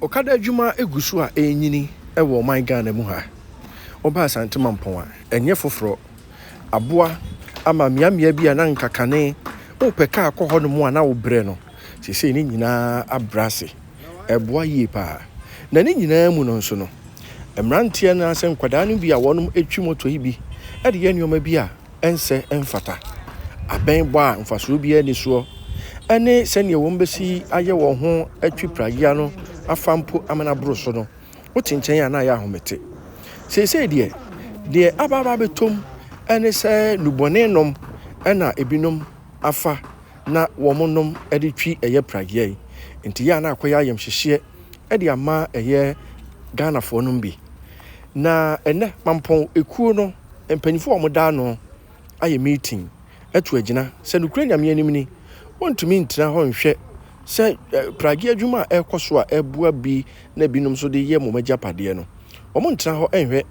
Okada adwuma gu so a ɛrenyini wɔ ɔman Ghana mu ha. Woba Asante Mampɔn a, ɛnyɛ foforɔ. Aboa ama mmeammea bi a na anka kane wopɛ kaa kɔ hɔnom a na wobrɛ no, seesei ne nyinaa abrɛ ase. Ɛboa yie pa ara. Na ne nyinaa mu no nso no, mmeranteɛ anaasɛ nkwadaa no bi a wɔtwi moto yi bi de yɛ nneɛma bi a, ɛnsɛ, ɛmfata. Abɛn bɔ a mfasoɔ biara nni soɔ ne sɛdeɛ wɔbɛsi ayɛ wɔn ho atwi pragea no afa mpo ama no aboro so no, wote nkyɛn a na ayɛ ahomete. Seesei deɛ, deɛ aba aba abɛtom ne sɛ nnubɔne nom na ebinom afa na wɔnom de twi ɛyɛ pragea yi. Nti yɛ a na akɔyɛ ayamhyehyeɛ de ama ɛyɛ Ghanafoɔ nom bi. Na ɛnnɛ, Mampɔn ekuo no mpanyinfoɔ a wɔda ano ayɛ meeting atu agyina sɛ nokorɛ Nyame anim ni, wɔntumi ntena hɔ nhwɛ sɛ pragye adwuma a ɛrekɔ so a ɛboa bi na binom nso de yɛ mom agyapadeɛ no, wɔntena hɔ nhwɛ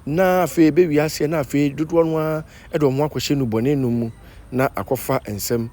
na afei ɛbɛwie aseɛ na afei dodoɔ no ara de wɔn akɔhyɛ nnubɔne nom mu na akɔfa nsɛm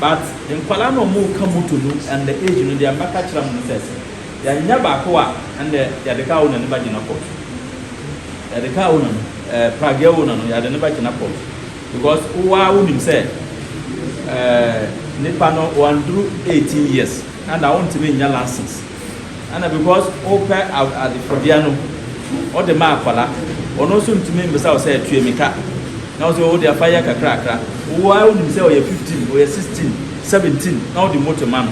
But nkwadaa no a ɔmo ka motor no under age no deɛ mɛka kyerɛ mo no sɛ sɛ yɛannya baako a ɛnde yɛde car owner no bɛgyina court. Yɛde car owner no eh, pragea owner no yɛde no bɛgyina court because wo ara wo nim sɛ eh, nipa no wanduru 18 years ɛnna wontumi nnya license. Ɛna because wopɛ adefodea no wode ma akwadaa, ɔno nso ntumi mmisa wo sɛ tua mi ka, na wo sɛ wo deɛ fa yɛ kakrakra. Wo ara wonim sɛ ɔyɛ fifteen, ɔyɛ sixteen, seventeen na wode motor ma no.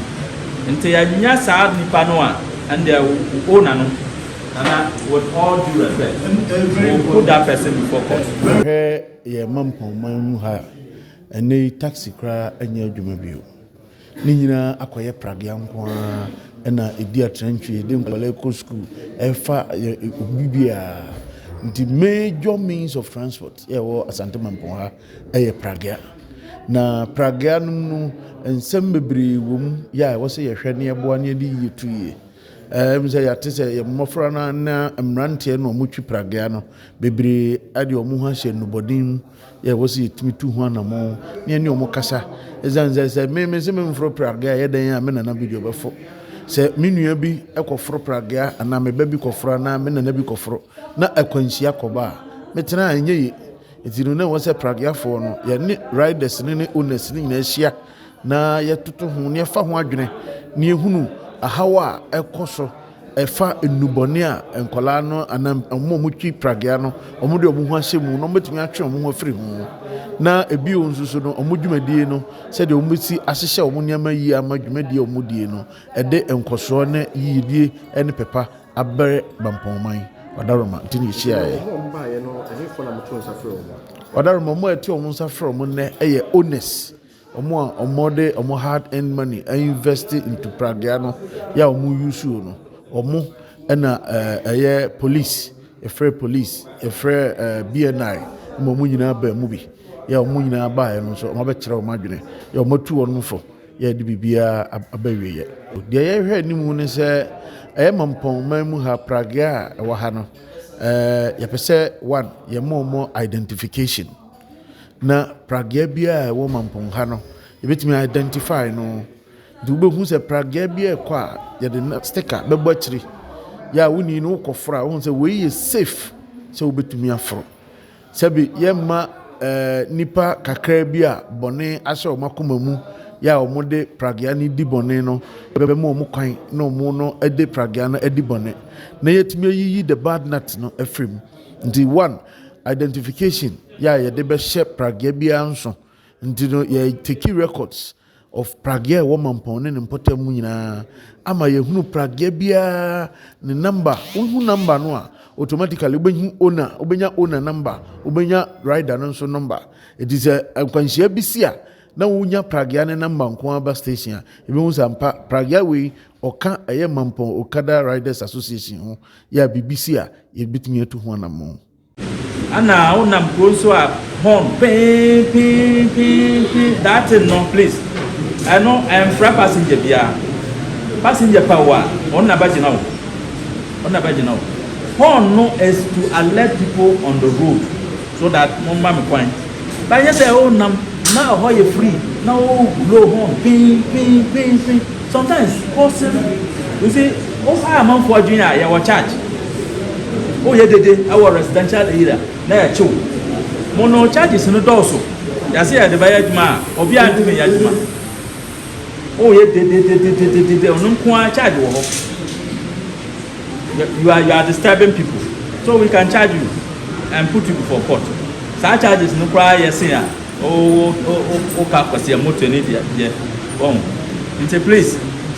Nti annya saa nipa no a, ɛndeɛ wo owner no. Nana, with all due respect, you will put that person before court. Wohwɛ yɛn mampɔn man mu ha a, ɛnnɛ yi taxi koraa nyɛ adwuma bio. Ne nyinaa akɔyɛ pragea nko ara ɛna edi atrantwie de nkwadaa kɔ sukuu ɛfa obi biara nti major means of transport ɛwɔ asante mampɔn ha ɛyɛ pragea na pragea no no nsɛm bebree wɔ mu yɛ a ɛwɔ sɛ yɛhwɛ ne ɛboa ne ɛde yie tu yie ɛm sɛ yɛate sɛ yɛ mmɔfra no na mmeranteɛ na wɔtwi pragea no bebree ɛde wɔn ho ahyɛ nnubɔden mu yɛ wɔ sɛ yɛtumi tu ho anamɔ ne yɛne ɔmo kasa ɛsiane sɛ sɛ me me sɛ memforo pragea yɛ dɛn a me nana bi deɛ ɔbɛfo sɛ me nua bi kɔforo pragea anaa me ba bi kɔforo anaa me nana bi kɔforo na akwanhyia kɔba a metena a ɛnyɛ ye ɛti no na ɛwɔ sɛ prageafoɔ no yɛne riders ne ne owners ne nyinaa hyia na yɛtoto ho, na yɛfa ho adwene, na yɛhunu ahaw a ɛkɔ so ɛfa nnubɔne a nkwadaa no anaa wɔn a wɔtwi pragea no wɔde wɔn ho ahyɛ mu na wɔbɛtumi atwe wɔn ho afiri ho na ebi wɔn nso so no wɔn dwumadie no sɛdeɛ wɔbɛsi ahyehyɛ wɔn nneɛma yie ama dwumadie a wɔdie no ɛde nkɔsoɔ ne yiyedie ne pɛpa abɛrɛ bampɔnman ɔdaroma nti na yɛhyiaeɛ ɔdaroma wɔn a ɛte wɔn nsa frɛ wɔn nnɛ ɛyɛ owners Ɔmo a ɔmo de ɔmo hard earned money a invest into pragea no yɛ a ɔmo use o no ɔmo ɛna ɛyɛ police yɛfrɛ police yɛfrɛ BNI ma ɔmo nyinaa baa mu bi yɛ ɔmo nyinaa baa yɛ no nso ɔmo abɛkyerɛ ɔmo adwene yɛ ɔmo atu ɔmo fo yɛ de biribiara aba wie yɛ deɛ yɛhwɛ anim ne sɛ ɛyɛ mampɔn man mu ha pragea a ɛwɔ ha no ɛɛ yɛpɛ sɛ one yɛ mo ɔmo identification. na pragea biara a ɛwɔ mampɔn ha no yɛbɛtumi a identify no nti wobɛhu sɛ pragea bi a ɛkɔ a yɛde sticker bɛbɔ akyiri yɛ a woni no wokɔforo a wohu sɛ wei yɛ safe sɛ wobɛtumi aforo sɛbi yɛmma ɛɛ nipa kakra bi a bɔne ahyɛ wɔn akoma mu yɛ a wɔde pragea no di bɔne no bɛma wɔn kwan na wɔn no de pragea no adi bɔne na yɛtumi ayiyi the bad nut no afiri mu nti one Identification yɛ a yɛde bɛhyɛ pragea biara nso nti no yɛ teki records of pragea ɛwɔ mampɔn ne ne mpɔtam mu nyinaa ama yɛhunu pragea biara ne number wohu number no a automatically wobɛhu owner wobɛnya owner number wobɛnya rider no nso number ɛti sɛ nkwanhyia bi si a na wonya pragea ne number nko aba station a yɛbɛhu sɛ mpa pragea wei Ɔka ɛyɛ Mampɔn Okada Riders Association ho yɛ a biribi si a yɛbɛtumi atu ho anammɔn. Ana wo nam kuro nso a horn peen peen peen peen that thing no please ɛno ɛnfra passenger biara passenger pa wo a ɔno na bɛgyina wo ɔno na bɛgyina wo horn no is to alert people on the road so that mo mma me kwan banyɛ sɛ wo nam na ɛhɔ yɛ free na wo blow horn peen peen peen peen Sometimes paul sɛm we say o ha amanfoɔ adwene a yɛwɔ charge o yɛ dede ɛwɔ residential area na yɛ kyew mo no charges no dɔɔso yɛase yɛde bɛyɛ adwuma a obi a ntumi yɛ adwuma o yɛ dedededededede ɔno nkoa charge wɔ hɔ you are you are disturbing people so we can charge you and put you before court saa charges no koraa yɛse a Wo wo wo wo car kwasea motor ni deɛ deɛ wahu nti please